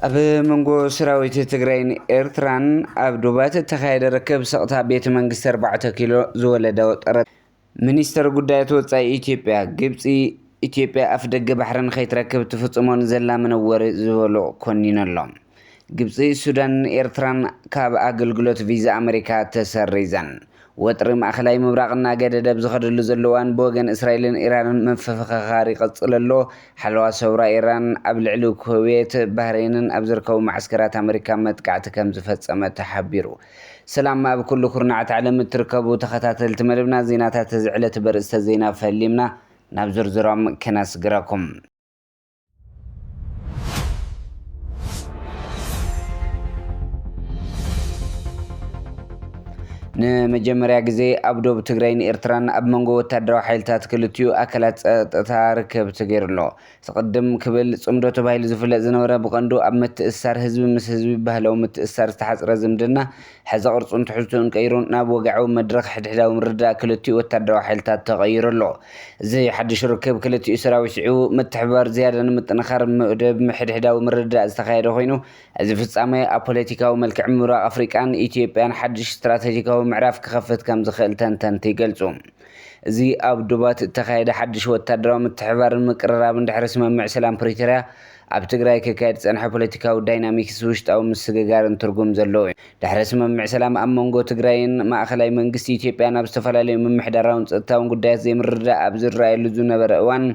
ኣብ መንጎ ሰራዊት ትግራይን ኤርትራን ኣብ ዶባት እተኻየደ ርክብ ስቕታ ቤተ መንግስቲ ኣርባዕተ ኪሎ ዝወለደ ወጠረት ሚኒስተር ጉዳያት ወጻኢ ኢትዮጵያ፣ ግብጺ ኢትዮጵያ ኣፍደገ ባሕሪ ንኸይትረክብ ትፍጽሞ ንዘላ መነወሪ ዝበሎ ኮኒኑ ኣሎ። ግብጺ፣ ሱዳንን ኤርትራን ካብ ኣገልግሎት ቪዛ ኣመሪካ ተሰሪዘን፣ ወጥሪ ማእከላይ ምብራቕ እናገደደ ኣብ ዝኸደሉ ዘሎ እዋን ብወገን እስራኤልን ኢራንን ምፍኽኻር ይቕጽል ኣሎ። ሓለዋ ሰውራ ኢራን ኣብ ልዕሊ ኩዌት፣ ባህሬንን ኣብ ዝርከቡ መዓስከራት ኣመሪካ መጥቃዕቲ ከምዝፈጸመ ተሓቢሩ። ሰላም ኣብ ኩሉ ኩርናዓት ዓለም እትርከቡ ተኸታተልቲ መደብና ዜናታት እዚ ዕለት በርእስተ ዜና ፈሊምና ናብ ዝርዝሮም ከናስግራኩም። ንመጀመርያ ግዜ ኣብ ዶብ ትግራይን ኤርትራን ኣብ መንጎ ወታደራዊ ሓይልታት ክልቲኡ ኣካላት ጸጥታ ርክብ ተገይሩ ኣሎ። ስቕድም ክብል፣ ጽምዶ ተባሂሉ ዝፍለጥ ዝነበረ ብቐንዱ ኣብ ምትእስሳር ህዝቢ ምስ ህዝቢ ብባህላዊ ምትእስሳር ዝተሓጽረ ዝምድና፣ ሕዚ ቅርጹን ትሕዝትኡን ቀይሩ ናብ ወግዓዊ መድረኽ ሕድሕዳዊ ምርድዳእ ክልቲኡ ወተሃደራዊ ሓይልታት ተቐይሩ ኣሎ። እዚ ሓድሽ ርክብ ክልቲኡ ሰራዊት ስዒቡ፣ ምትሕብባር ዝያዳ ንምጥንኻር መደብ ሕድሕዳዊ ምርድዳእ ዝተኻየደ ኮይኑ፣ እዚ ፍጻመ ኣብ ፖለቲካዊ መልክዕ ምብራቕ ኣፍሪቃን ኢትዮጵያን ሓድሽ ስትራተጂካዊ ምዕራፍ ክኸፍት ከምዝኽእል ተንተንቲ ይገልጹ። እዚ ኣብ ዶባት እተኻየደ ሓድሽ ወታደራዊ ምትሕብባርን ምቅርራብን ድሕሪ ስምምዕ ሰላም ፕሪቶርያ ኣብ ትግራይ ክካየድ ዝጸንሐ ፖለቲካዊ ዳይናሚክስ ውሽጣዊ ምስግጋርን ትርጉም ዘለዎ እዩ። ድሕሪ ስምምዕ ሰላም ኣብ መንጎ ትግራይን ማእኸላይ መንግስቲ ኢትዮጵያን ኣብ ዝተፈላለዩ ምምሕዳራውን ፀጥታውን ጉዳያት ዘይምርድዳእ ኣብ ዝረኣየሉ ዝነበረ እዋን፣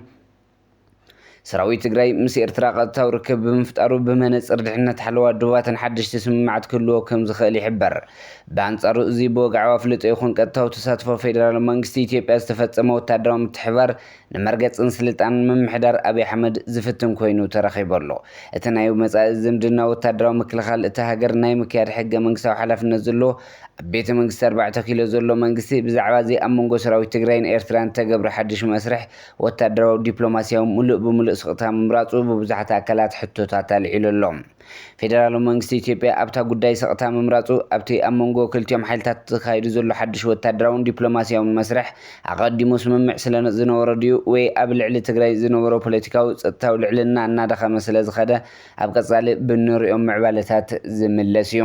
ሰራዊት ትግራይ ምስ ኤርትራ ቀጥታዊ ርክብ ብምፍጣሩ ብመነጽር ድሕነት ሓለዋ ዶባትን ሓደሽቲ ስምምዓት ክህልዎ ከም ዝኽእል ይሕበር። ብኣንጻሩ እዚ ብወግዓዊ ኣፍልጦ ይኹን ቀጥታዊ ተሳትፎ ፌደራል መንግስቲ ኢትዮጵያ ዝተፈጸመ ወተሃደራዊ ምትሕብባር ንመርገጽን ስልጣንን ምምሕዳር ኣብይ ኣሕመድ ዝፍትን ኮይኑ ተረኺቡ ኣሎ። እቲ ናይ መጻኢ ዝምድና ወተሃደራዊ ምክልኻል እታ ሃገር ናይ ምክያድ ሕገ-መንግስታዊ ሓላፍነት ዘለዎ ኣብ ቤተ-መንግስቲ ኣርባዕተ ኪሎ ዘሎ መንግስቲ ብዛዕባ'ዚ ኣብ መንጎ ሰራዊት ትግራይን ኤርትራን እተገብረ ሓድሽ መስርሕ ወታደራዊ ዲፕሎማሲያዊ ምሉእ ብምሉእ ስቕታ ምምራጹ ብብዙሓት ኣካላት ሕቶታት ኣልዒሉ ኣሎ። ፌደራላዊ መንግስቲ ኢትዮጵያ ኣብታ ጉዳይ ስቕታ ምምራጹ፣ ኣብቲ ኣብ መንጎ ክልቲኦም ሓይልታት ተኻይዱ ዘሎ ሓድሽ ወታደራውን ዲፕሎማሲያውን መስርሕ ኣቐዲሙ ስምምዕ ስለ ዝነበሮ ድዩ ወይ ኣብ ልዕሊ ትግራይ ዝነበሮ ፖለቲካዊ ጸጥታዊ ልዕልና እናደኸመ ስለ ዝኸደ ኣብ ቀጻሊ ብእንርእዮም ምዕባለታት ዝምለስ እዩ።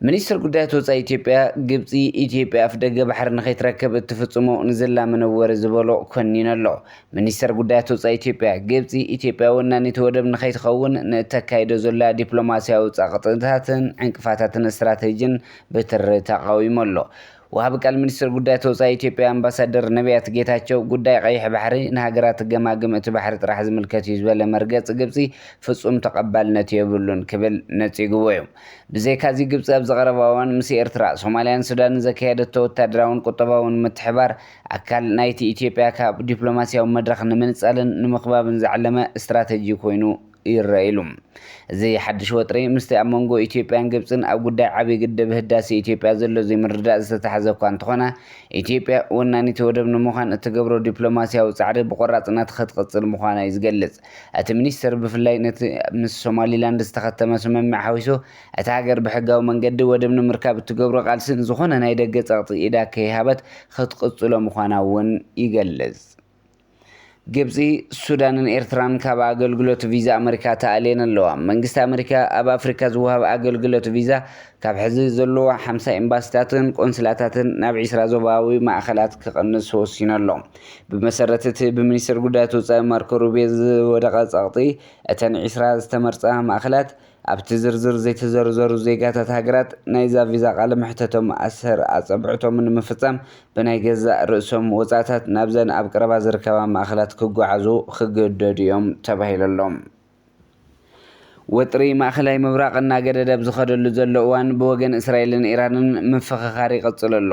ሚኒስትር ጉዳያት ወፃኢ ኢትዮጵያ ግብፂ ኢትዮጵያ ኣፍደገ ባሕሪ ንኸይትረክብ እትፍፅሞ ንዘላ መነወሪ ዝበሎ ኮኒኑ ኣሎ። ሚኒስተር ጉዳያት ወፃኢ ኢትዮጵያ ግብፂ ኢትዮጵያ ወናኒት ወደብ ንኸይትኸውን ንእተካይዶ ዘላ ዲፕሎማስያዊ ጸቕጥታትን ዕንቅፋታትን ስትራቴጂን ብትሪ ተቓዊሙ ኣሎ። ወሃቢ ቃል ሚኒስትር ጉዳያት ወፃኢ ኢትዮጵያ ኣምባሳደር ነብያት ጌታቸው ጉዳይ ቀይሕ ባሕሪ ንሃገራት ገማግም እቲ ባሕሪ ጥራሕ ዝምልከት እዩ ዝበለ መርገፂ ግብፂ ፍፁም ተቐባልነት የብሉን ክብል ነፂግዎ እዩ። ብዘይካዚ ግብፂ ኣብዚ ቀረባ እዋን ምስ ኤርትራ፣ ሶማሊያን ሱዳንን ዘካየደቶ ወታደራውን ቁጠባውን ምትሕባር ኣካል ናይቲ ኢትዮጵያ ካብ ዲፕሎማሲያዊ መድረኽ ንምንፃልን ንምኽባብን ዝዓለመ ስትራተጂ ኮይኑ ይረኣዩሉ። እዚ ሓድሽ ወጥሪ ምስቲ ኣብ መንጎ ኢትዮጵያን ግብጽን ኣብ ጉዳይ ዓብዪ ግድብ ህዳሴ ኢትዮጵያ ዘሎ ዘይምርድዳእ ዝተታሕዘ እኳ እንተኾነ፣ ኢትዮጵያ ወናኒት ወደብ ንምዃን እትገብሮ ዲፕሎማስያዊ ጻዕሪ ብቖራጽነት ኽትቕጽል ምዃና'ዩ ዝገልጽ። እቲ ሚኒስተር ብፍላይ ነቲ ምስ ሶማሊላንድ ዝተኸተመ ስምምዕ ሓዊሱ እታ ሃገር ብሕጋዊ መንገዲ ወደብ ንምርካብ እትገብሮ ቃልሲ ንዝኾነ ናይ ደገ ጸቕጢ ኢዳ ከይሃበት ኽትቕጽሎ ምዃና'ውን ይገልጽ። ግብጺ፣ ሱዳንን ኤርትራን ካብ ኣገልግሎት ቪዛ ኣመሪካ ተኣልየን ኣለዋ። መንግስቲ ኣመሪካ ኣብ ኣፍሪካ ዝወሃብ ኣገልግሎት ቪዛ ካብ ሕዚ ዘለዎ ሓምሳ ኤምባሲታትን ቆንስላታትን ናብ ዒስራ ዞባዊ ማእኸላት ክቕንስ ወሲኑ ኣሎ። ብመሰረት እቲ ብሚኒስትር ጉዳያት ወፃኢ ማርኮ ሩቢዮ ዝወደቐ ፀቕጢ፣ እተን ዒስራ ዝተመርፃ ማእኸላት ኣብቲ ዝርዝር ዘይተዘርዘሩ ዜጋታት ሃገራት ናይዛ ቪዛ ቃለ መሕተቶም ኣሰር ኣጸብዕቶም ንምፍጻም ብናይ ገዛእ ርእሶም ወጻእታት ናብዘን ኣብ ቀረባ ዝርከባ ማእከላት ክጓዓዙ ክግደዱ እዮም ተባሂሉ ኣሎ። ወጥሪ ማእከላይ ምብራቕ እናገደደ ኣብ ዝኸደሉ ዘሎ እዋን ብወገን እስራኤልን ኢራንን ምፍኽኻር ይቕጽል ኣሎ።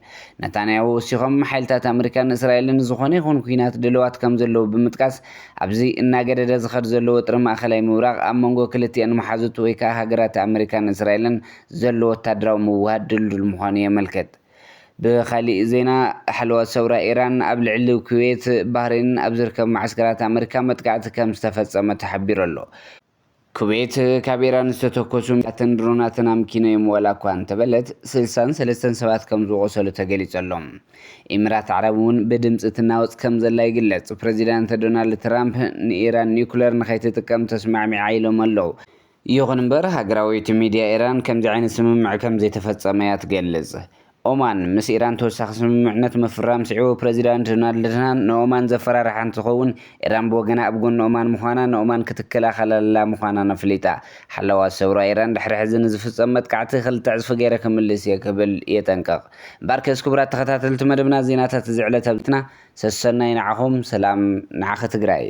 ነታንያሁ ወሲኾም፣ ሓይልታት ኣመሪካን እስራኤልን ንዝኾነ ይኹን ኲናት ድልዋት ከምዘለዉ ብምጥቃስ፣ ኣብዚ እናገደደ ዝኸድ ዘሎ ወጥሪ ማእከላይ ምብራቕ፣ ኣብ መንጎ ክልቲኣን መሓዙት ወይ ከኣ ሃገራት ኣመሪካን እስራኤልን ዘሎ ወተሃደራዊ ምውህሃድ ድልዱል ምዃኑ የመልክት። ብኻሊእ ዜና፣ ሓለዋ ሰውራ ኢራን ኣብ ልዕሊ ኩዌት፣ ባህሬንን ኣብ ዝርከቡ መዓስከራት ኣመሪካ መጥቃዕቲ ከምዝተፈጸመ ተሓቢሩ ኣሎ። ኩዌት ካብ ኢራን ዝተተኮሱ ሚሳይላትን ድሮናትን ኣምኪኖ'ዮም ዋላ'ኳ እንተበለት፣ ስልሳን ሰለስተን ሰባት ከም ዝቖሰሉ ተገሊጹ'ሎ። ኢምራት ዓረብ'ውን ብድምጺ ትናወጽ ከም ዘላ ይግለጽ። ፕረዚዳንት ዶናልድ ትራምፕ ንኢራን ኒኩለር ንኸይትጥቀም ተስማዕሚዓ ኢሎም ኣለው። ይኹን'ምበር ሃገራዊት ሚድያ ኢራን ከምዚ ዓይነት ስምምዕ ከም ዘይተፈጸመ'ያ ትገልጽ። ኦማን ምስ ኢራን ተወሳኺ ስምምዕነት ምፍራም ስዒቡ ፕረዚዳንት ዶናልድ ትራምፕ ንኦማን ዘፈራርሓ እንትኸውን፣ ኢራን ብወገና ኣብ ጎኒ ኦማን ምዃና ንኦማን ክትከላኸለላ ምዃናን ኣፍሊጣ። ሓለዋ ሰውራ ኢራን ድሕሪ ሕዚ ንዝፍጸም መጥቃዕቲ ክልተ ዕጽፊ ገይረ ክምልስ እየ ክብል የጠንቅቕ። እምበኣርከስ ክቡራት ተኸታተልቲ መደብና ዜናታት እዚ ዕለት ኣብዚና ሰሰናዩ ንዓኹም ሰላም ንዓኺ ትግራይ።